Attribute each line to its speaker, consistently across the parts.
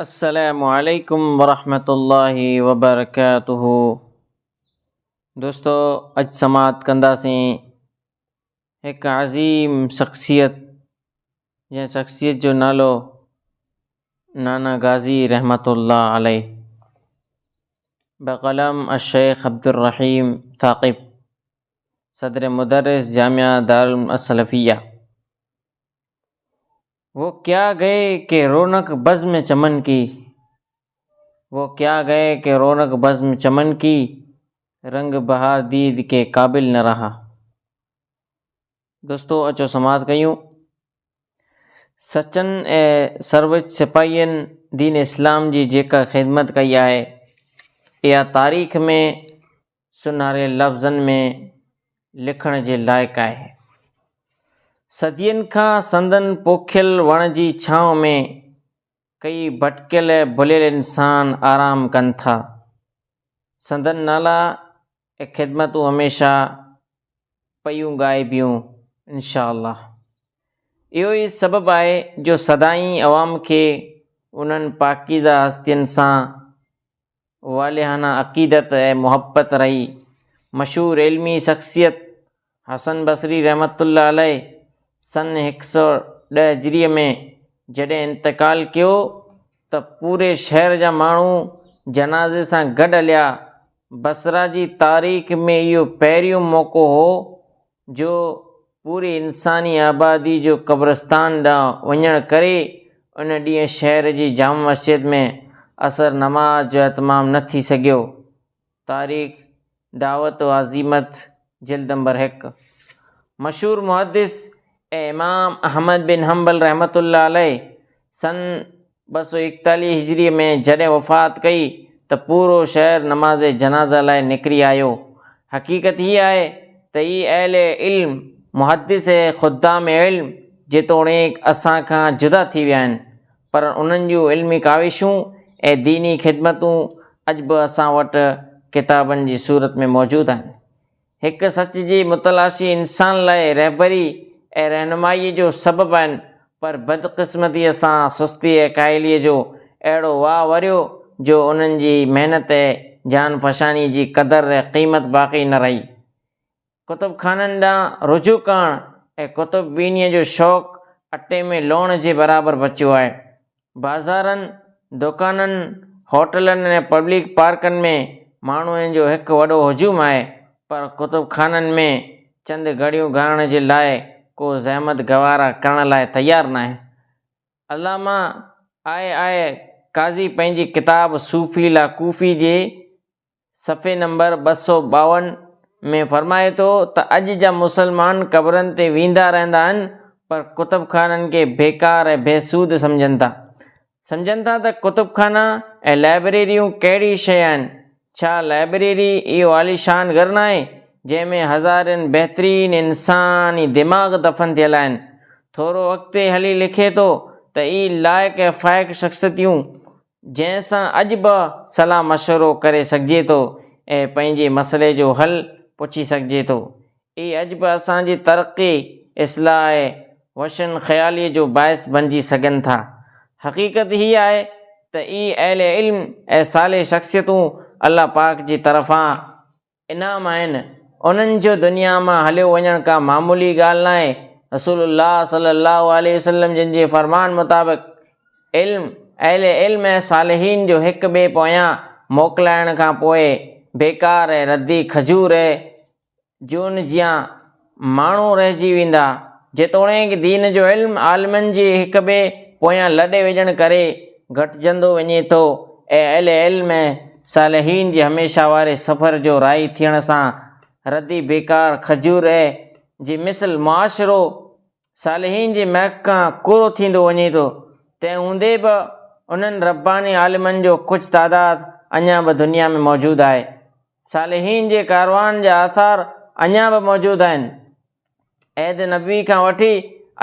Speaker 1: السلام عليڪم ورحمة الله وبرڪاته دوستو اڄ سماعت ڪنداسين هڪ عظيم شخصيت جنهن شخصيت جو نالو نانا غازي رحمت الله عليه بقلم الشيخ عبد الرحيم ثاقب صدر مدرس جامعه دارالعلوم السلفيه وو ڪيا گئي ڪي رونق بزم چمن ڪي وو ڪيا گئي ڪي رونق بزم چمن ڪي رنگ بهار ديد ڪي قابل نه رها دوستو اچو سماعت ڪيون سچن اي سروچ سپاهين دين اسلام جي جيڪا خدمت ڪئي آهي اها تاريخ ۾ سونهاري لفظن ۾ لکڻ جي لائق آهي. صدين کان سندن پوکيل وڻ جي ڇانو ۾ ڪيئي ڀٽڪيل ڀليل انسان آرام ڪن ٿا. سندن نالا ۽ خدمتون هميشه پيون ڳائبيون انشاء الله. اهو ئي سبب آهي جو سدائين عوام کي انهن پاڪيزه هستين سان والهانه عقيدت ۽ محبت رهي. مشهور علمي شخصيت حسن بصري رحمة الله عليه سن هڪ سؤ ڏهه هجريء ۾ جڏهن انتقال ڪيو ته پوري شهر جا ماڻهو جنازي سان گڏ هليا. بصره جي تاريخ ۾ اهو پهريون موقعو هو جو پوري انساني آبادي جو قبرستان ڏانهن وڃڻ ڪري ان ڏينهن شهر جي جامع مسجد ۾ عصر نماز جو اهتمام نه ٿي سگهيو. تاريخ دعوت و عزيمت جلد نمبر هڪ مشهور محدث ۽ امام احمد بن حنبل رحمة الله عليه سن ٻه سؤ ايڪيتاليهه هجريء ۾ جڏهن وفات ڪئي ته پورو شهر نماز جنازه لاء نڪري آيو. حقيقت هيء آهي ته اي اهل علم، محدث ۽ خدام علم جيتوڻيڪ اسان کان جدا ٿي ويا آهن، پر انهن جون علمي ڪاوشون ۽ ديني خدمتون اڄ به اسان وٽ ڪتابن جي صورت ۾ موجود آهن. هڪ سچ جي متلاشي انسان لاء رهبري ۽ رهنمائيء جو سبب آهن، پر بدقسمتيء سان سستي ۽ ڪاهليء جو اهڙو واء وريو، جو انهن جي محنت ۽ جانفشانيء جي قدر ۽ قيمت باقي نه رهي. ڪتب خانن ڏانهن رجوع ڪرڻ ۽ ڪتب بينيء جو شوق اٽي ۾ لوڻ جي برابر بچيو آهي. بازارن، دڪانن، هوٽلن ۽ پبلڪ پارڪن ۾ ماڻهن جو هڪ وڏو هجوم آهي، پر ڪتب خانن ۾ چند گهڙيون گهارڻ جي لاء ڪو زحمت گوارا ڪرڻ لاء تيار ناهي. علامه آء. آء. قاضي پنهنجي ڪتاب صوفي لا ڪوفي جي صفحي نمبر ٻه سؤ ٻاون ۾ فرمائي ٿو ته اڄ جا مسلمان قبرن تي ويندا رهندا آهن پر ڪتب خانن کي بيڪار ۽ بي سود سمجهن ٿا. سمجهن ٿا ته ڪتب خانا ۽ لائبريريون ڪهڙي شيء آهن؟ ڇا لائبريري اهو عاليشان گهر ناهي جنهن ۾ هزارين بهترين انساني دماغ دفن ٿيل آهن؟ ٿورو اڳتي هلي لکي ٿو ته اي لائق ۽ فائق شخصيتيون جنهن سان اڄ به صلاح مشورو ڪري سگهجي ٿو ۽ پنهنجي مسئلي جو حل پڇي سگهجي ٿو. اهي اڄ به اسان جي ترقي، اصلاح ۽ وشن خياليء جو باعث بنجي سگهن ٿا. حقيقت هيء آهي ته اهي اهل علم ۽ صالح شخصيتون الله پاڪ جي طرفان، انعام آهن، انهن جو دنيا مان هليو وڃڻ ڪا معمولي ڳالهه ناهي، رسول الله صلّي اللّٰه عليه وسلّم جن جي فرمان مطابق علم، اهل علم ۽ صالحين جو هڪ ٻئي پويان موڪلائڻ کان پوء بيڪار ۽ ردي کجور جون جيان ماڻهو رهجي ويندا. جيتوڻيڪ دين جو علم عالمن جي هڪ ٻئي پويان لڏي وڄڻ ڪري گهٽجندو وڃي ٿو ۽ اهل علم ۽ صالحين جي هميشه واري سفر جو راهي ٿيڻ سان ردي بيڪار کجور اي جي مثل معاشرو صالحين جي مهڪ کان ڪورو ٿيندو وڃي ٿو. تنهن هوندي به انهن رباني عالمن جو ڪجهه تعداد اڃا به دنيا ۾ موجود آهي. صالحين جي ڪاروان جا آثار اڃا به موجود آهن. عهد نبوي کان وٺي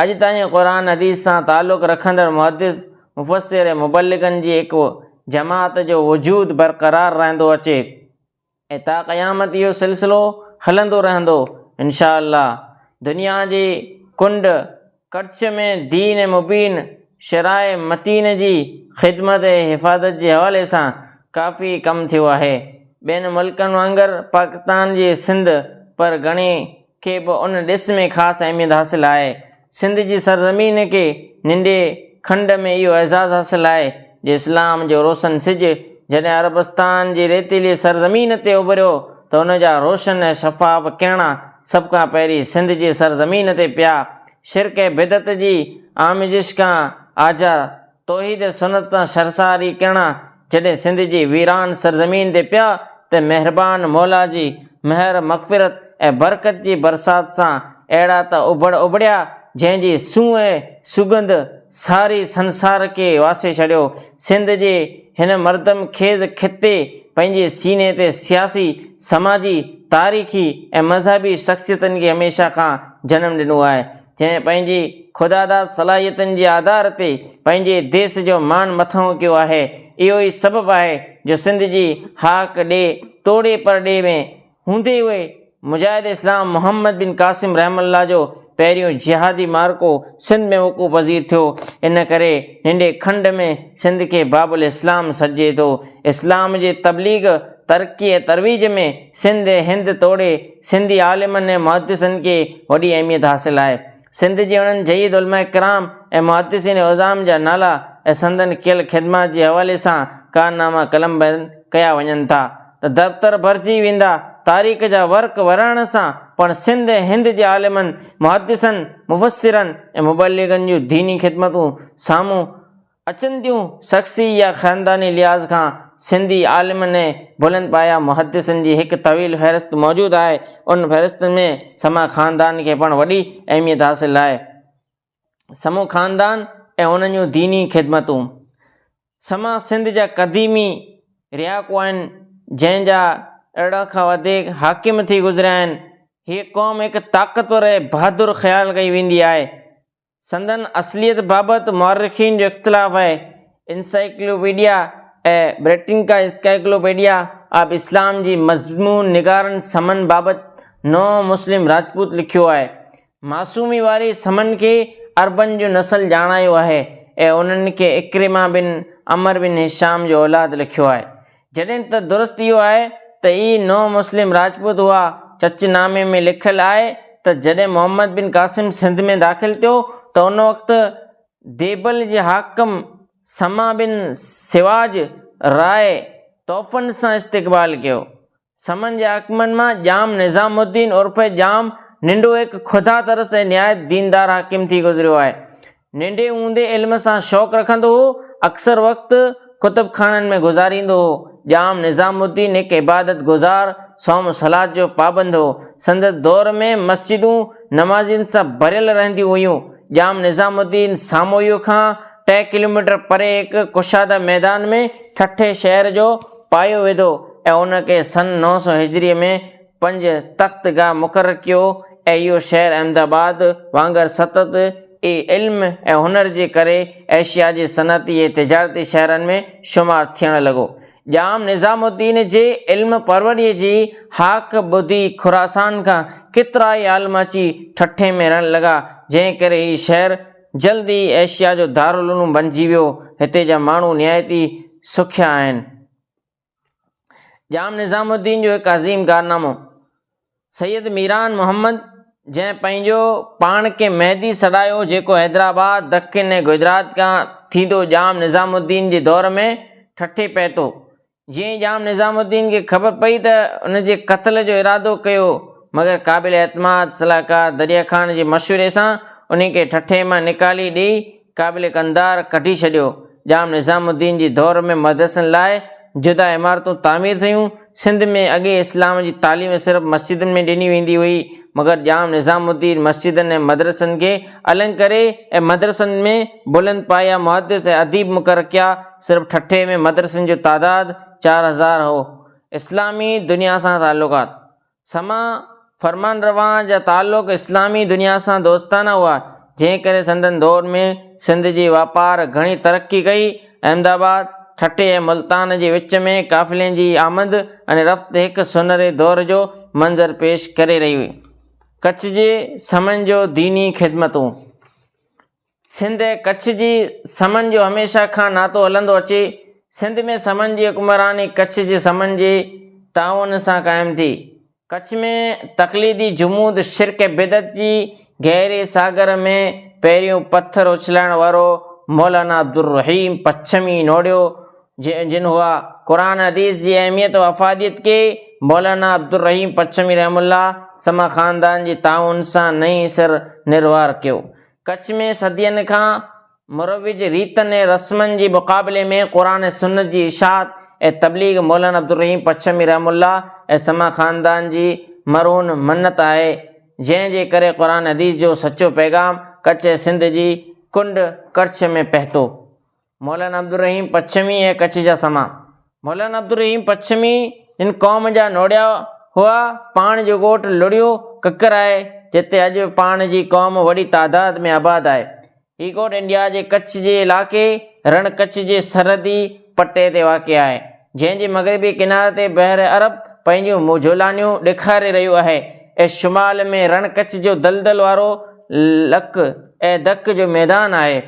Speaker 1: اڄ تائين قرآن حديث سان تعلق رکندڙ محدث، مفسر ۽ مبلغن جي هڪ جماعت جو وجود برقرار رهندو اچي ۽ تا قيامت اهو سلسلو هلندو رهندو انشاء الله دنيا جي ڪنڊ ڪڙڇ ۾ دين مبين، شرع متين جي خدمت ۽ حفاظت جي حوالي سان ڪافي ڪم ٿيو آهي. ٻين ملڪن وانگر پاڪستان جي سنڌ پر گهڻي کي به ان ڏس ۾ خاص اهميت حاصل آهي. سنڌ جي سرزمين کي ننڍي کنڊ ۾ اهو اعزاز حاصل آهي جي اسلام جو روشن سج جڏهن عربستان جي ريتيلي سرزمين تي اڀريو ته ان جا روشن ۽ شفاف ڪرڻا سڀ کان پهرين سنڌ جي سرزمين تي پيا. شرڪ ۽ بدعت جي آميزش کان آجا توحيد ۽ سنت سان شرساري ڪرڻا جڏهن سنڌ جي ويران سرزمين تي پيا ته مهربان مولا جي مهر مغفرت ۽ برڪت جي برسات سان اهڙا ته اڀڙ اڀڙيا، جنهن جي سونهن ۽ سڳنڌ ساري سنسار کي واسي ڇڏيو. سنڌ جي هن مردم خيز خطي پنهنجي سيني تي سياسي، سماجي، تاريخي ۽ مذهبي شخصيتن کي هميشه کان جنم ڏنو آهي، جنهن پنهنجي خداداد صلاحيتن جي آڌار تي پنهنجي ديس جو مان مٿانهون ڪيو آهي. اهو ئي سبب آهي جو سنڌ جي هاڪ ڏي توڙي پرڏيهه ۾ هوندي هوئي، مجاهد اسلام محمد بن قاسم رحمه الله جو پهريون جهادي معرڪو سنڌ ۾ وقوع پذير ٿيو، ان ڪري ننڍي کنڊ ۾ سنڌ کي باب الاسلام سڏجي ٿو. اسلام جي تبليغ، ترقي ۽ ترويج ۾ سنڌ ۽ هند توڙي سنڌي عالمن ۽ محدثن کي وڏي اهميت حاصل آهي. سنڌ جي اڻن جهيد علماء ڪرام ۽ محدثين عظام جا نالا ۽ سندن ڪيل خدمات جي حوالي سان ڪارناما قلمبند ڪيا وڃن ٿا. ته دفتر ڀرجي ويندا، تاريخ جا ورق ورڻ سان پڻ سنڌ ۽ هند جي عالمن، محدثن، مفسرن ۽ مبلغن جون ديني خدمتون سامهون اچن ٿيون، شخصي يا خانداني لحاظ کان سنڌي عالمن ۽ بلند پايه محدثن جي هڪ طويل فهرست موجود آهي، انهن فهرستن ۾ سما خاندان کي پڻ وڏي اهميت حاصل آهي. سمو خاندان ۽ انهن جون ديني خدمتون سما سنڌ جا قديمي رياڪو آهن جنهن جا ارڙهن کان وڌيڪ حاڪم ٿي گذريا آهن هيء قوم هڪ طاقتور ۽ بهادر خيال ڪئي ويندي آهي سندن اصليت بابت مؤرخين جو اختلاف آهي انسائيڪلوپيڊيا ۽ بريٽنڪا اسڪائيڪلوپيڊيا آف اسلام جي مضمون نگارن سمن بابت نو مسلم راجپوت لکيو آهي معصومي واري سمن کي عربن جو نسل ڄاڻايو آهي ۽ انهن کي عڪرمه بن عمرو بن هشام جو اولاد لکيو آهي. جڏهن ته درست اهو آهي ته اهي نو مسلم راجپوت هئا. چچ نامي ۾ لکيل آهي ته جڏهن محمد بن قاسم سنڌ ۾ داخل ٿيو ته ان وقت ديبل جي حاڪم سما بن سواج راء طوفن سان استقبال ڪيو سمن جي حاڪمن مان ڄام نظام الدين عرف ڄام ننڊو هڪ خدا ترس ۽ نهايت ديندار حاڪم ٿي گذريو آهي. ننڍي هوندي علم سان شوق رکندو هو، اڪثر وقت ڪتب خانن ۾ گذاريندو هو. ڄام نظام الدين هڪ عبادت گذار، صوم صلات جو پابند هو. سندس دور ۾ مسجدون نمازين سان ڀريل رهنديون هيون. ڄام نظام الدين ساموئيء کان ٽه ڪلوميٽر پري هڪ ڪشاده ميدان ۾ ٺٽي شهر جو پايو وڌو ۽ ان کي سن نو سؤ هجريء ۾ پنج تخت گاهه مقرر ڪيو ۽ اهو شهر احمد آباد وانگر ستت ئي علم ۽ هنر جي ڪري ايشيا جي صنعتي ۽ تجارتي شهرن ۾ شمار ٿيڻ لڳو. ڄام نظام الدين جي علم پروريء جي هاڪ ٻڌي خراسان کان ڪيترائي عالم اچي ٺٽي ۾ رهڻ لڳا، جنهن ڪري هي شهر جلد ئي ايشيا جو دارالعلوم بڻجي ويو. هتي جا ماڻهو نهايت ئي سکيا آهن. ڄام نظام الدين جو هڪ عظيم ڪارنامو، سيد ميران محمد جنهن پنهنجو پاڻ کي مهدي سڏايو جيڪو حيدرآباد، دکن ۽ گجرات کان ٿيندو ڄام نظام الدين جي دور ۾ ٺٽي پهتو. جيئن ڄام نظام الدين کي خبر پئي ته ان جي قتل جو ارادو ڪيو مگر قابل اعتماد صلاحڪار دريا خان جي مشوري سان انهي کي ٺٺي مان نڪالي ڏئي قابل قنڌار ڪڍي ڇڏيو. ڄام نظام الدين جي دور ۾ مدرسن لاء جدا عمارتون تعمير ٿيون. سنڌ ۾ اڳي اسلام جي تعليم صرف مسجدن ۾ ڏني ويندي هئي مگر ڄام نظام الدين مسجدن ۽ مدرسن کي النگ ڪري ۽ مدرسن ۾ بلند پايه محدث ۽ اديب مقرر ڪيا. صرف ٺٽي ۾ مدرسن جو تعداد چار هزار هو. اسلامي دنيا سان تعلقات، سما فرمان روا جا تعلق اسلامي دنيا سان دوستانه هئا، جنهن ڪري سندن دور ۾ سنڌ جي واپار گهڻي ترقي ڪئي. احمد آباد، ٺٽي ۽ ملتان جي وچ ۾ قافلين جي آمد ۽ رفت هڪ سونهري دور جو منظر پيش ڪري رهي هئي. ڪڇ جي سمن جو ديني خدمتون، سنڌ ۽ ڪڇ جي سمن جو هميشه کان ناتو هلندو اچي. سنڌ ۾ سمن جي حڪمراني ڪڇ جي سمن جي تعاون سان قائم ٿي. ڪڇ ۾ تقليدي جمود، شرڪ ۽ بدعت جي گهري ساگر ۾ پهريون پٿر اڇلائڻ وارو مولانا عبدالرحيم پڇمي نوڙيو جن هئا قرآن حديث جي اهميت و افاديت کي مولانا عبدالرحيم پڇمي رحمه الله سما خاندان جي تعاون سان نئين سر نروار ڪيو. ڪڇ ۾ صدين کان مروج ريتن ۽ رسمن جي مقابلي ۾ قرآن ۽ سنت جي اشاعت ۽ تبليغ مولانا عبدالرحيم پڇمي رحمه الله ۽ سما خاندان جي مرهون منت آهي، جنهن جي ڪري قرآن حديث جو سچو پيغام ڪڇ ۽ سنڌ جي ڪنڊ ڪڙڇ ۾ پهتو. مولانا عبدالرحيم پڇمي ۽ ڪڇ جا سما، مولانا عبدالرحيم پڇمي هن قوم جا نوڙيا هئا، پاڻ جو ڳوٺ لڙيو ڪڪر آهي، جتي اڄ پاڻ جي قوم وڏي تعداد ۾ آباد آهي. هي ڳوٺ انڊيا جي ڪڇ جي علائقي رڻ ڪڇ جي سرحدي پٽي تي واقع آهي، جنهن جي مغربي ڪناري تي بحر عرب پنهنجون موجهولانيون ڏيکاري رهيو آهي ۽ شمال ۾ رڻ ڪڇ جو دلدل وارو لڪ ۽ دڪ جو ميدان آهي.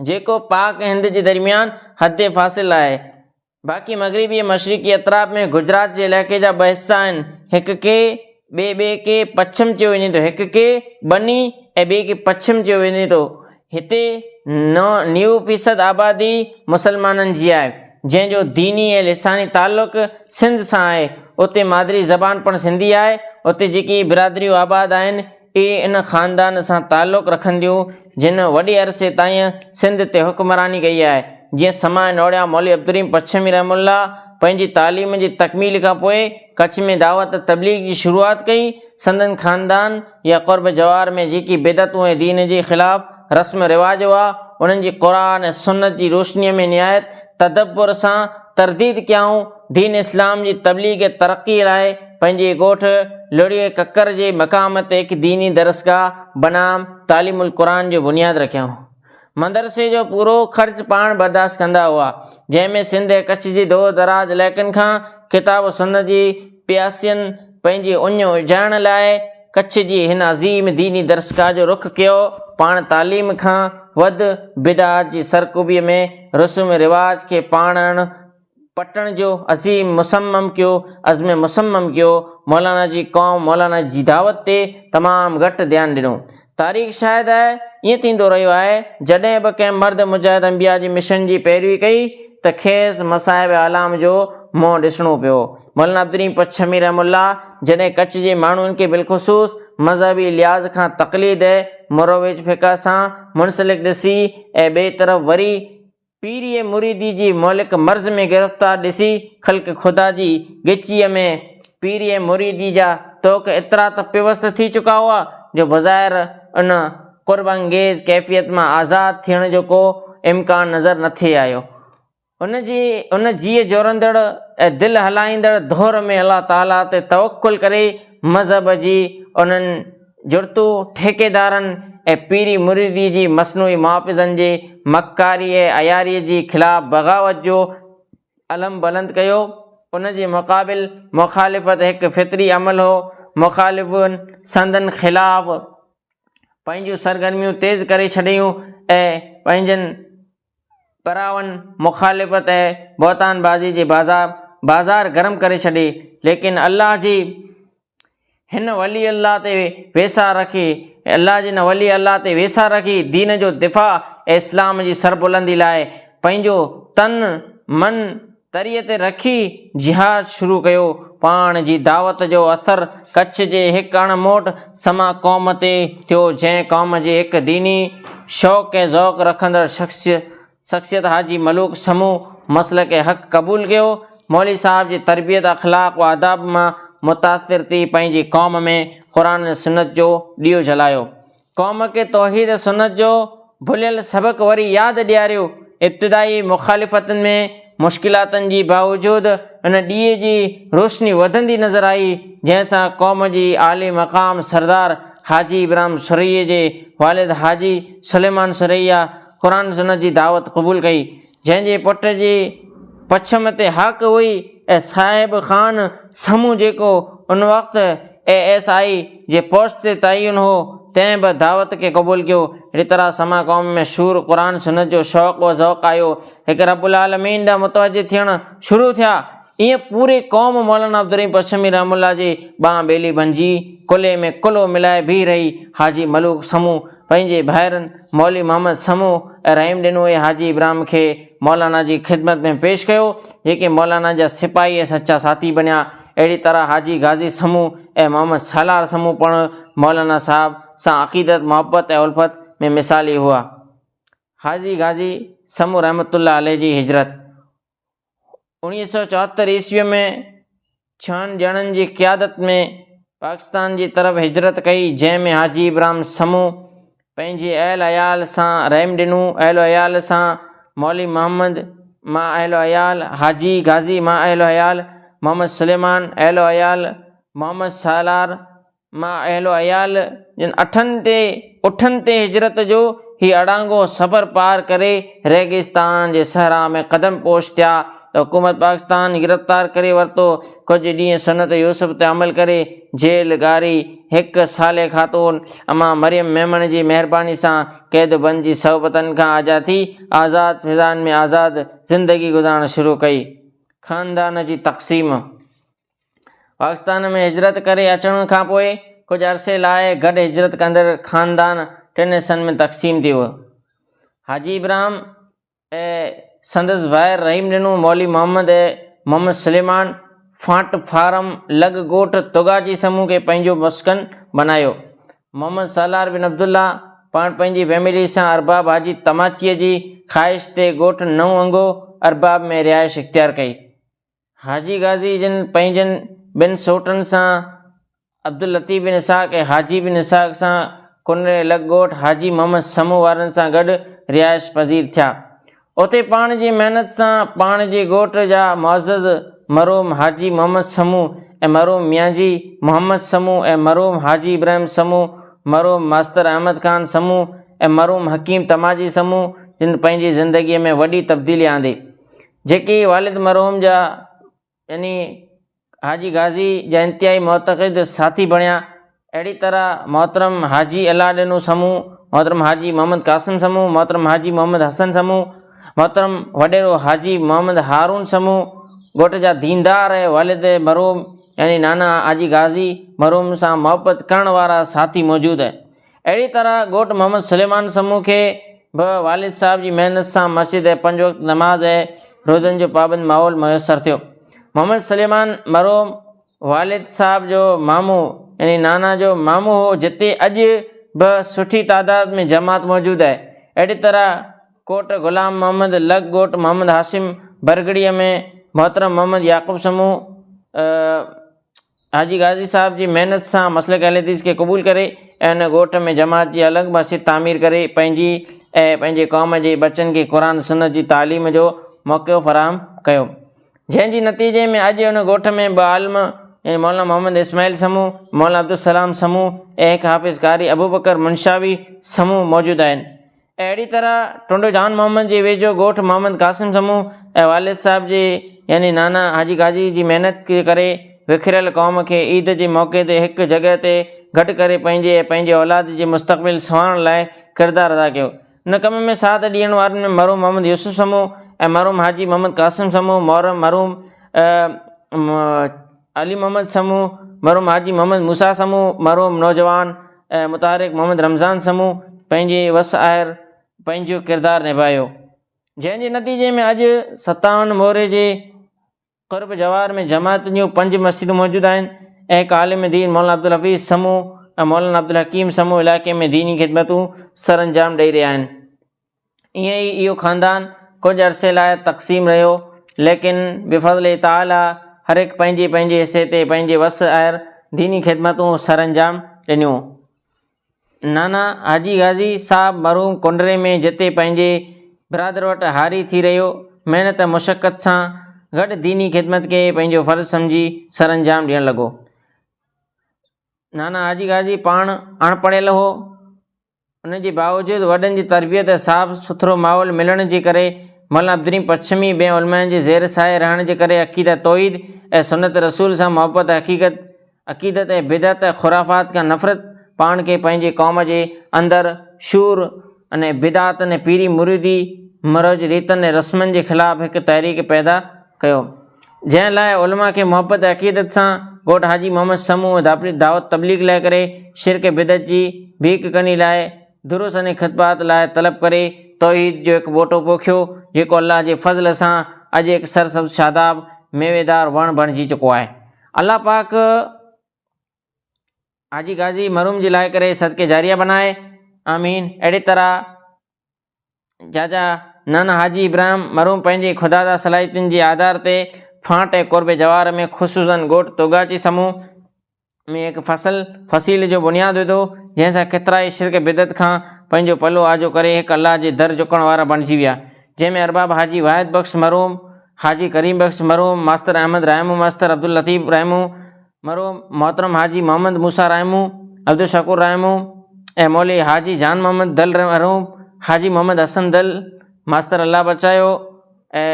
Speaker 1: جيڪو پاڪ ۽ هند جي درميان حد فاصل آهي. باقي مغربي ۽ مشرقي اطراف ۾ گجرات جي علائقي جا ٻه حصا آهن، هڪ کي ٻي ٻئي کي پڇم چيو وڃي ٿو، هڪ کي ٻني ۽ ٻئي کي پڇم چيو وڃي ٿو. هتي نو نيو فيصد آبادي مسلمانن جي آهي، جنهن جو ديني ۽ لساني تعلق سنڌ سان آهي. اتي مادري زبان پڻ سنڌي آهي. اتي جيڪي برادريون آباد آهن، اهي ان خاندان سان تعلق رکنديون جن وڏي عرصي تائين سنڌ تي حڪمراني ڪئي آهي. جيئن سماء نوڙيا مولوي عبدالرحيم پڇمي رحمه الله پنهنجي تعليم جي تڪميل کان پوء ڪڇ ۾ دعوت تبليغ جي شروعات ڪئي، سندن خاندان يا قرب جوار ۾ جيڪي بدعتون ۽ دين جي خلاف رسم رواج هئا انهن جي قرآن ۽ سنت جي روشنيء ۾ نهايت تدبر سان ترديد ڪيائون، دين اسلام جي تبليغ ۽ ترقيء لاء پنهنجي ڳوٺ لڙهيء ڪڪر جي مقام تي هڪ ديني درسگاهه بنام تعليم القرآن جو بنياد رکيائون. مدرسي جو پورو خرچ پاڻ برداشت ڪندا هئا، جنهن ۾ سنڌ ۽ ڪڇ جي دور دراز علائقن کان ڪتاب و سنت جي پياسين پنهنجي اڃ اجهائڻ لاء ڪڇ جي هن عظيم ديني درسگاهه جو رخ ڪيو، پاڻ تعليم کان وڌ بدعات جي سرڪوبيء ۾ رسوم رواج کي پاڻڻ پٽڻ جو عظيم مصمم ڪيو عزم مصمم ڪيو مولانا جي قوم مولانا جي دعوت تي تمام گهٽ ڌيان ڏنو تاريخ شاهد آهي ائين ٿيندو رهيو آهي جڏهن به ڪنهن مرد مجاهد انبياء جي مشن جي پيروي ڪئي ته کيس مصائب اعلام جو منهن ڏسڻو پيو مولانا عبدالرحيم پڇمي رحم الله جڏهن ڪڇ جي ماڻهن کي بالخصوص مذهبي لحاظ کان تقليد مروج فقه سان منسلڪ ڏسي ۽ ٻئي طرف وري پيريء مريديء جي مهلڪ مرض ۾ گرفتار ڏسي، خلق خدا جي ڳچيء ۾ پيريء مريديء جا طوق ايترا ته پيوست ٿي چڪا هئا، جو بظاهر ان قرب انگيز ڪيفيت مان آزاد ٿيڻ جو ڪو امڪان نظر نه ٿي آيو. ان جي ان جيء جوڙندڙ ۽ دل هلائيندڙ دؤر ۾ الله تعاليٰ تي توڪل ڪري، مذهب جي انهن. جڙتو ٺيڪيدارن ۽ پيري مريدي جي مصنوعي محافظن جي مڪاري ۽ عياري جي خلاف بغاوت جو علم بلند ڪيو. ان جي مقابل مخالفت هڪ فطري عمل هو. مخالفن سندن خلاف پنهنجون سرگرميون تيز ڪري ڇڏيون ۽ پنهنجن پراون مخالفت ۽ بهتان بازي جي بازا بازار گرم ڪري ڇڏي، ليڪن الله جي هن ولي الله تي ويساهه رکي الله جي هن ولي الله تي ويساهه رکي دين جو دفاع ۽ اسلام جي سربلندي لاء پنهنجو تن، من، تري تي رکي جهاد شروع ڪيو. پاڻ جي دعوت جو اثر ڪڇ جي هڪ اڻ موٽ سما قوم تي ٿيو جنهن قوم جي هڪ ديني شوق ۽ ذوق رکندڙ شخصيت حاجي ملوڪ سمون مسلڪ حق قبول ڪيو. مولوي صاحب جي تربيت اخلاق و آداب مان متاثر ٿي پنهنجي قوم ۾ قرآن ۽ سنت جو ڏيئو جلايو. قوم کي توحيد سنت جو ڀليل سبق وري ياد ڏياريو، ابتدائي مخالفتن ۾ مشڪلاتن جي باوجود ان ڏيئي جي روشني وڌندي نظر آئي جنهن سان قوم جي عالي مقام سردار حاجي ابراهيم سورهيه جي والد حاجي سليمان سورهيه قرآن سنت جي دعوت قبول ڪئي جنهن جي پٽ جي پڇم تي حق هئي ۽ صاحب خان سمون جيڪو ان وقت اي ايس آء جي پوسٽ تي تعين هو، تنهن به دعوت کي قبول ڪيو. ريترا سما قوم ۾ شور قرآن سنت جو شوق و ذوق آيو. هڪ رب العالمين ڏانهن متوجه ٿيڻ شروع ٿيا. ايئن پوري قوم مولانا عبدالرحيم پرشمي رحمه الله جي ٻانهن ٻيلي بنجي، ڪلهي ۾ ڪلهو ملائي بيهي رهي. حاجي ملوڪ سمون پنهنجي ڀائرن مولوي محمد سمون ۽ رحيم ڏنوء حاجي ابراهيم کي مولانا جي خدمت ۾ پيش ڪيو، جيڪي مولانا جا سپاهي ۽ سچا ساٿي بنيا. اهڙي طرح حاجي غازي سمون ۽ محمد سالار سمون پڻ مولانا صاحب سان عقيدت، محبت ۽ الفت ۾ مثالي هئا. حاجي غازي سمون رحمة الله عليه جي هجرت اوڻيهه سؤ چوهتر عيسويء ۾ ڇهن ڄڻن جي قيادت ۾ پاڪستان جي طرف هجرت ڪئي، جنهن ۾ حاجي ابراهم سمون پنهنجي اهل عيال سان رحم ڏنو، اهل عيال سان مولوي محمد، مع اهل عيال، حاجي غازي، مع اهل عيال، محمد سليمان، اهل عيال، محمد سالار، ماء اهل و عيال جن اٺن تي اٺن تي هجرت جو هي اڙانگو سفر پار ڪري ريگستان جي صحرا ۾ قدم پوش ٿيا ته حڪومت پاڪستان گرفتار ڪري ورتو ڪجهه ڏينهن سنت يوسف تي عمل ڪري جيل گاري هڪ صالح خاتون اما مريم ميمڻ جي مهرباني سان قيد و بند جي صحبتن کان آجا ٿي آزاد فضائن ۾ آزاد زندگي گذارڻ شروع ڪئي خاندان جي تقسيم پاڪستان ۾ هجرت ڪري اچڻ کان پوء ڪجهه عرصي لاء گڏ هجرت ڪندڙ خاندان ٽن حصن ۾ تقسيم ٿي ويو. حاجي ابراهيم ۽ سندس ڀائر رحيم ڏنو، مولوي محمد ۽ محمد سليمان فاٽ فارم لڳ ڳوٺ توگاچي سمون کي پنهنجو مسڪن بنايو. محمد سالار بن عبدالله پاڻ پنهنجي فيملي سان ارباب حاجي تماچيء جي خواهش تي ڳوٺ نئون انگو ارباب ۾ رهائش اختيار ڪئي. حاجي غازي جن پنهنجن ٻن سوٽن سان عبداللطيف بن اسحاق ۽ حاجي بن اسحاق سان ڪنري لڳ ڳوٺ حاجي محمد سمون وارن سان گڏ رهائش پذير ٿيا. اتي پاڻ جي محنت سان پاڻ جي ڳوٺ جا معزز مرحوم حاجي محمد سمون ۽ مرحوم ميانجي محمد سمون ۽ مرحوم حاجي ابراهيم سمون، مرحوم ماستر احمد خان سمون ۽ مرحوم حڪيم تماجي سمون جن پنهنجي زندگيء ۾ وڏي تبديلي آندي. جيڪي والد مرحوم جا يعني حاجي غازي جا انتهائي معتقد ساٿي بڻيا، اهڙي طرح محترم حاجي الله ڏنو سمون، محترم حاجي محمد قاسم سمون، محترم حاجي محمد حسن سمون، محترم وڏيرو حاجي محمد هارون سمون ڳوٺ جا ديندار ۽ والد مرحوم يعني نانا حاجي غازي مرحوم سان محبت ڪرڻ وارا ساٿي موجود اهڙي طرح ڳوٺ محمد سليمان سمون کي به والد صاحب جي محنت سان مسجد ۽ پنج وقت نماز ۽ روزن جو پابند ماحول ميسر ٿيو محمد سليمان مرحوم والد صاحب جو مامو يعني نانا جو مامو هو جتي اڄ به سٺي تعداد ۾ جماعت موجود آهي اهڙي طرح ڪوٽ غلام محمد لڳ ڳوٺ محمد هاشم برگڙيء ۾ محترم محمد يعقوب سمون حاجي غازي صاحب جي محنت سان مسلڪ اهل حديث کي قبول ڪري ۽ هن ڳوٺ ۾ جماعت جي الڳ مسجد تعمير ڪري پنهنجي ۽ پنهنجي قوم جي ٻچن کي قرآن سنت جي تعليم جو موقعو فراهم ڪيو جنهن جي نتيجي ۾ اڄ هن ڳوٺ ۾ ٻه عالم يعني مولانا محمد اسماعيل سمون مولانا عبدالسلام سمون ۽ هڪ حافظ قاري ابوبڪر منشاوي سمون موجود آهن اهڙي طرح ٽنڊو جان محمد جي ويجهو ڳوٺ محمد قاسم سمون ۽ والد صاحب جي يعني نانا حاجي قاضي جي محنت جي ڪري وکريل قوم کي عيد جي موقعي تي هڪ جڳهه تي گڏ ڪري پنهنجي ۽ پنهنجي اولاد جي مستقبل سنوارڻ لاء ڪردار ادا ڪيو. ان ڪم ۾ ساٿ ڏيڻ وارن ۾ مرحوم محمد يوسف سمون ۽ مرحوم حاجي محمد قاسم سمون، محرم مرحوم، علي محمد سمون، مرحوم حاجي محمد موسيٰ سمون، مرحوم نوجوان ۽ متحرڪ محمد رمضان سمون پنهنجي وس آهر پنهنجو ڪردار نڀايو جنهن جي نتيجي ۾ اڄ ستاون موري جي قرب جوار ۾ جماعت جون پنج مسجدون موجود آهن ۽ هڪ عالم دين مولانا عبدالحفيظ سمون ۽ مولانا عبدالحڪيم سمون علائقي ۾ ديني خدمتون سرانجام ڏئي رهيا آهن. ائين ئي اهو خاندان ڪجهه عرصي لاء تقسيم رهيو، ليڪن بفضل تعاليٰ هر هڪ پنهنجي پنهنجي حصي تي پنهنجي وس آهر ديني خدمتون سرانجام ڏنيون. نانا حاجي غازي صاحب مرحوم ڪنڊري ۾ جتي پنهنجي برادر وٽ هاري ٿي رهيو، محنت مشقت سان گڏ ديني خدمت کي پنهنجو فرض سمجهي سرانجام ڏيڻ لڳو. نانا حاجي غازي پاڻ اڻپڙهيل هو. ان جي باوجود وڏن جي تربيت ۽ صاف سٿرو ماحول ملڻ جي ڪري مولانا عبدالرحيم پڇمي ٻين علمائن جي زير سايي رهڻ جي ڪري عقيده توحيد ۽ سنت رسول سان محبت حقيقت عقيدت ۽ بدعت ۽ خرافات کان نفرت پاڻ کي پنهنجي قوم جي اندر شور ۽ بدعتن ۽ پيري مريدي مروج ريتن ۽ رسمن جي خلاف هڪ تحريڪ پيدا ڪيو. جنهن لاء علماء کي محبت ۽ عقيدت سان گهوٽ حاجي محمد سمون ڌاپڙي دعوت تبليغ لاء ڪري، شرڪ ۽ بدعت جي ڀيڪ ڪني لاء، دروس ۽ خطبات لاء طلب ڪري، توحيد جو هڪ ٻوٽو پوکيو، جيڪو الله جي فضل سان اڄ هڪ سرسبز شاداب ميويدار وڻ بڻجي چڪو آهي. الله پاڪ حاجي غازي مرحوم جي لاء ڪري صدقه جاريه بنائي. آمين. اهڙي طرح جاجا نانا حاجي ابراهيم مرحوم پنهنجي خودادا صلاحيتن جي آڌار تي ڦانٽ ۽ قرب جوار ۾ خصوصا ڳوٺ توگاچي سمون ۾ هڪ فصل فصيل جو بنياد وڌو جنهن سان ڪيترائي شرڪ بدعت کان پنهنجو پلو آجو ڪري هڪ الله جي در جهڪڻ وارا بڻجي ويا جنهن ۾ ارباب حاجي واحد بخش مرحوم حاجي ڪريم بخش مرحوم ماستر احمد رحيمو ماستر عبداللطيف رحيمو مرحوم محترم حاجي محمد موسيٰ رحيمون، عبدالشڪور رحيمون ۽ مولوي حاجي جان محمد دل مرحوم حاجي محمد حسن دل ماستر الله بچايو ۽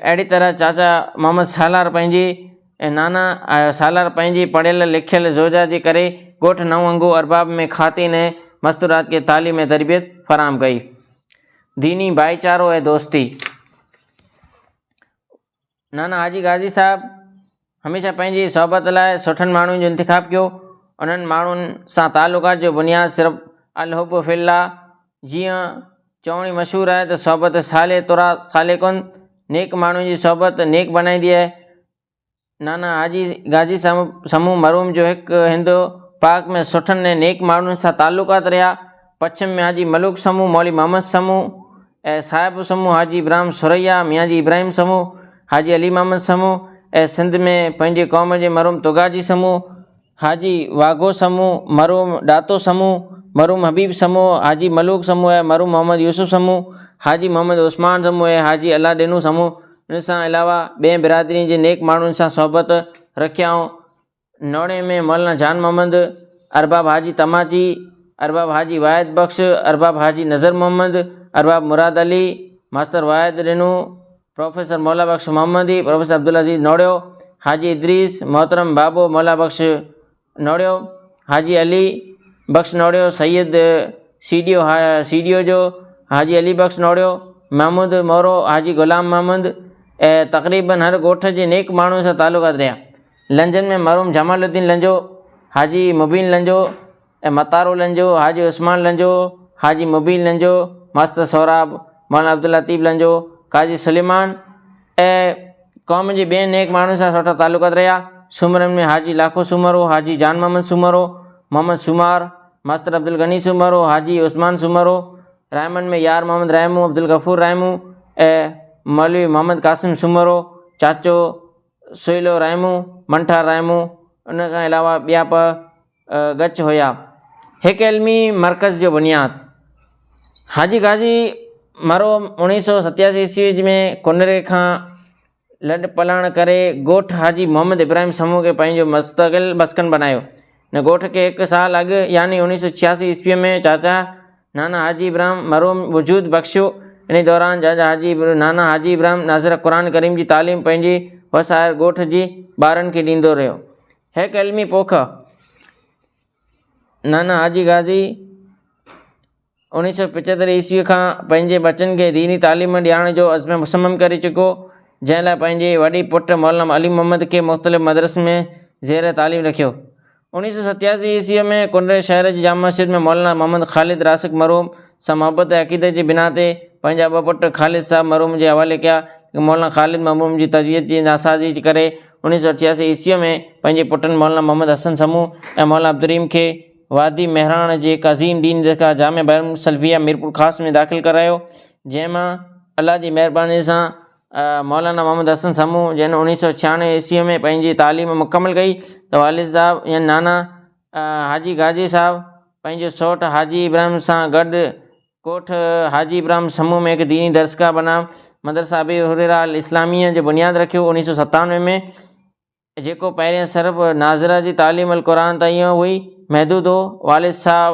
Speaker 1: اهڙي طرح چاچا محمد سالار پنهنجي ۽ نانا سالار پنهنجي پڙهيل لکيل زوجها جي ڪري ڳوٺ نئون انگو ارباب ۾ خواتين ۽ مستورات کي تعليم ۽ تربيت فراهم ڪئي. ديني ڀائيچارو ۽ دوستي. نانا حاجي غازي صاحب هميشه پنهنجي صحبت لاء سٺن ماڻهن جو انتخاب ڪيو، انهن ماڻهن سان تعلقات جو بنياد صرف الحب في الله جيئن چوڻي مشهور آهي ته صحبت صالح ترا صالح ڪن، نيڪ ماڻهن جي صحبت نيڪ بنائيندي آهي. نانا حاجي غازي صاحب سمون مرحوم جو هڪ هند پاڪ ۾ سٺن ۽ نيڪ ماڻهن سان تعلقات رهيا، پڇم ۾ حاجي ملوڪ سمون، مولوي محمد سمون، اي صاحب سمون حاجي ابراهم ثريا ميان جي ابراهيم سمون حاجي علي محمد سمون اي سنڌ ۾ پنهنجي قوم جي مرحوم توگاجي سمون حاجي واگهو سمون مرحوم ڏاتو سمون مرحوم حبيب سمون حاجي ملوڪ سمون اي مرحوم محمد يوسف سمون حاجي محمد عثمان سمون اي حاجي الله ڏينو سمون ان سان علاوه ٻين برادرين جي نيڪ ماڻهن سان صحبت رکيائون نوڙي ۾ مولانا جان محمد، ارباب حاجي تماچي، ارباب حاجي واحد بخش، ارباب حاجي Nazar Muhammad, Arbab Murad Ali, master Wahid Rino, professor Mola Bux Muhammadi, professor Abdulaziz Noriyo, حاجي ادريس، محترم بابو مولا بخش نوڙيو، حاجي Ali Bakhsh Noriyo, Syed C D O ها سي ڊي او جو حاجي علي بخش نوڙيو، محمود مورو، حاجي غلام محمد، تقريبن هر ڳوٺ جي نيڪ ماڻهوء سان تعلقات رهيا. لنجن ۾ مرحوم جمال الدين لنجو، حاجي مبين لنجو ۽ متارو لنجو، حاجي عثمان لنجو، حاجي مبين لنجو، ماستر سهراب، مولانا عبداللطيف لنجو، قاضي سليمان ۽ قوم جي ٻين نيڪ ماڻهن سان سٺا تعلقات رهيا. سومرن ۾ حاجي لاکو سومرو، حاجي جان محمد سومرو، محمد سومار، ماستر عبدالغني سومرو، حاجي عثمان سومرو، رحيمن ۾ يار محمد رحيمو، عبدالغفور رحيمو ۽ مولوي محمد قاسم سومرو، چاچو، سويلو رحيمو، منٺار رحيمو ان کان علاوه ٻيا به ڳچ هيا. هڪ علمي مرڪز جو بنياد حاجي غازي مرو اوڻيهه سو ستياسي عيسوي ۾ ڪنري کان لڏپلاڻ ڪري ڳوٺ حاجي محمد ابراهيم سمون کي پنهنجو مستقل مسڪن بنايو. هن ڳوٺ کي هڪ سال اڳ يعني اوڻيهه سؤ ڇياسي عيسويء ۾ چاچا نانا حاجي ابراهيم مرحوم وجود بخشيو. انهيء دوران چاچا حاجي نانا حاجي ابراهيم ناظره قرآن ڪريم جي تعليم پنهنجي وسائر ڳوٺ جي ٻارن کي ڏيندو رهيو. هيڪ علمي پوک نانا حاجي غازي، اڻيهه سؤ پچهتر عيسويء کان پنهنجي ٻچن کي ديني تعليم ڏيارڻ جو عزم مصمم ڪري چڪو، جنهن لاء پنهنجي وڏي پٽ مولانا علي محمد کي مختلف مدرسن ۾ زير تعليم رکيو. اڻيهه سؤ ستياسي عيسويء ۾ ڪنري شهر جي جامع مسجد ۾ مولانا محمد خالد راسخ مرحوم سان محبت ۽ عقيدت جي بنا تي پنهنجا ٻه پٽ خالد صاحب مرحوم جي حوالي ڪيا، ليڪن مولانا خالد مرحوم جي تربيت جي ناسازي جي ڪري اڻيهه سؤ اٺياسي عيسويء ۾ پنهنجي پٽن مولانا محمد حسن سمون ۽ مولانا عبدالرحيم کي وادي مهراڻ جي قاضين ڊين درگاهه جامع بيان سلفيه ميرپورخاص ۾ داخل ڪرايو جنهن مان الله جي مهرباني سان مولانا محمد حسن سمون جنهن اڻيهه سؤ ڇيانوي عيسوي ۾ پنهنجي تعليم مڪمل ڪئي ته والد صاحب يعني نانا حاجي گاجي صاحب پنهنجو سوٽ حاجي ابراهيم سان گڏ ڪوٺ حاجي ابراهيم سمون ۾ هڪ ديني درسگاهه بنام مدرسه ابي هريره الاسلاميه جو بنياد رکيو اڻيهه سؤ ستانوي ۾ جيڪو پهرين صرف ناظره جي تعليم القرآن تائين هئي محدود هو. والد صاحب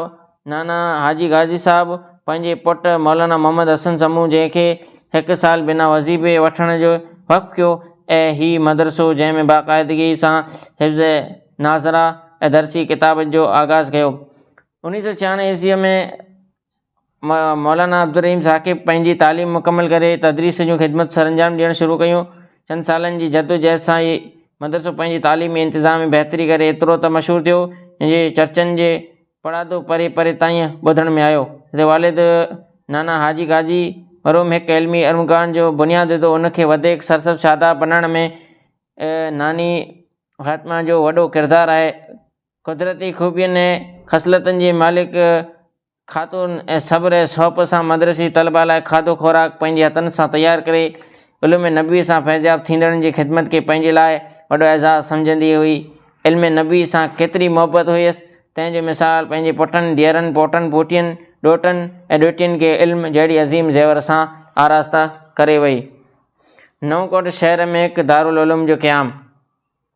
Speaker 1: نانا حاجي غازي صاحب پنهنجي پٽ مولانا محمد حسن سمون جنهن کي هڪ سال بنا وظيفي وٺڻ جي وقف ڪيو ۽ هي مدرسو جنهن ۾ باقاعدگي سان حفظ ناظره ۽ درسي ڪتابن جو آغاز ڪيو. انهيء سؤ ڇهاڻوي عيسويء ۾ مولانا عبدالرحيم ثاقب پنهنجي تعليم مڪمل ڪري تدريس جون خدمتون سرانجام ڏيڻ شروع ڪيون. چند سالن جي جدوجهد سان هي مدرسو پنهنجي تعليم ۽ انتظام ۾ بهتري ڪري ايترو ته مشهور ٿيو جو چرچن جي پڙاڏو پري پري تائين ٻڌڻ ۾ آيو. هن جي والد نانا حاجي قاضي مرحوم هڪ علمي ارمغان جو بنياد وڌو، ان کي وڌيڪ سرسبز شاداب بنائڻ ۾ ناني فاطمه جو وڏو ڪردار آهي. قدرتي خوبين ۽ خصلتن جي مالڪ خاتون ۽ صبر ۽ سهپ سان مدرسي طلبا لاء کاڌو خوراڪ پنهنجي هٿن سان تيار ڪري علوم نبوي سان فيضياب ٿيندڙن جي خدمت کي پنهنجي لاء وڏو اعزاز سمجهندي هئي. علم نبوي سان ڪيتري محبت هيس تنهن جو مثال پنهنجي پٽن، ڌيئرن، پوٽن، پوٽين، ڏوهٽن ۽ ڏوهٽين کي علم جهڙي عظيم زيور سان آراسته ڪري وئي. نئون ڪوٽ شهر ۾ هڪ دارالعلوم جو قيام.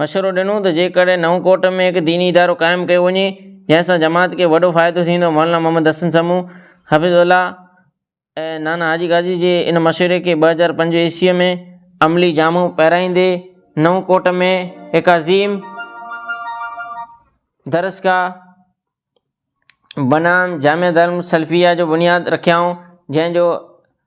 Speaker 1: مشورو ڏنو ته جيڪڏهن نئون ڪوٽ ۾ هڪ ديني ادارو قائم ڪيو وڃي جنهن سان جماعت کي وڏو فائدو ٿيندو مولانا محمد حسن سمون، حفيظ الله ۽ نانا حاجي غازي جي ان مشوري کي ٻه هزار پنج عيسويء ۾ عملي جامو پهرائيندي نئون ڪوٽ ۾ هڪ عظيم درسگاهه بنان جامع دارالعلوم سلفيه جو بنياد رکيائون، جنهن جو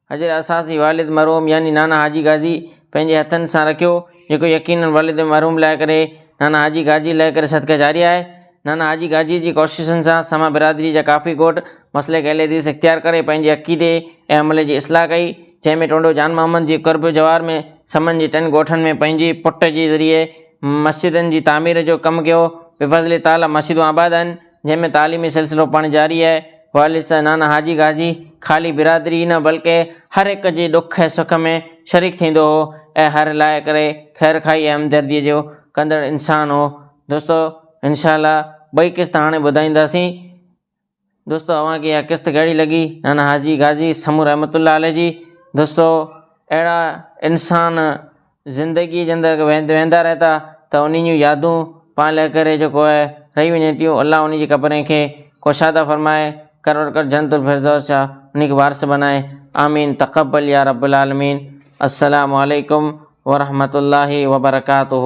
Speaker 1: اجر اساس ئي والد مرحوم يعني نانا حاجي غازي پنهنجي هٿن سان رکيو، جيڪو يقيناً والد مرحوم لاء ڪري نانا حاجي غازي لاء ڪري صدقه جاريه آهي. نانا حاجي غازيء جي ڪوششن سان سما برادريء جا ڪافي ڳوٺ مسلڪ اهل حديث اختيار ڪري پنهنجي عقيدي ۽ عمل جي اصلاح ڪئي، جنهن ۾ ٽونڊو جان محمد جي قرب جوار ۾ سمن جي ٽن ڳوٺن ۾ پنهنجي پٽ جي ذريعي مسجدن جي تعمير جو ڪم ڪيو، بفضل تعاليٰ مسجدون آباد آهن، جنهن ۾ تعليمي سلسلو پڻ جاري آهي، والد نانا حاجي گاجي خالي برادري ئي نه بلڪه هر هڪ جي ڏک ۽ سک ۾ شريڪ ٿيندو هو ۽ هر لاء ڪري خيرخواهي ۽ همدردي جو ڪندڙ انسان هو دوستو انشاء الله ٻئي قسط هاڻي ٻڌائينداسين. دوستو اوهان کي اها قسط ڪهڙي لڳي نانا حاجي غازي سمون رحمت الله عليه جي دوستو اهڙا انسان زندگيء جي اندر ويندا رهي ٿا ته انهن جون يادون پاڻ لڳ ڪري جيڪو آهي رهي وڃن ٿيون الله ان جي قبرين کي ڪشادا فرمائي کروڙ کروڙ جنت الفردوس جا ان کي وارث بنائي آمين تقبل يا رب العالمين السلام عليكم ورحمة الله وبرڪاته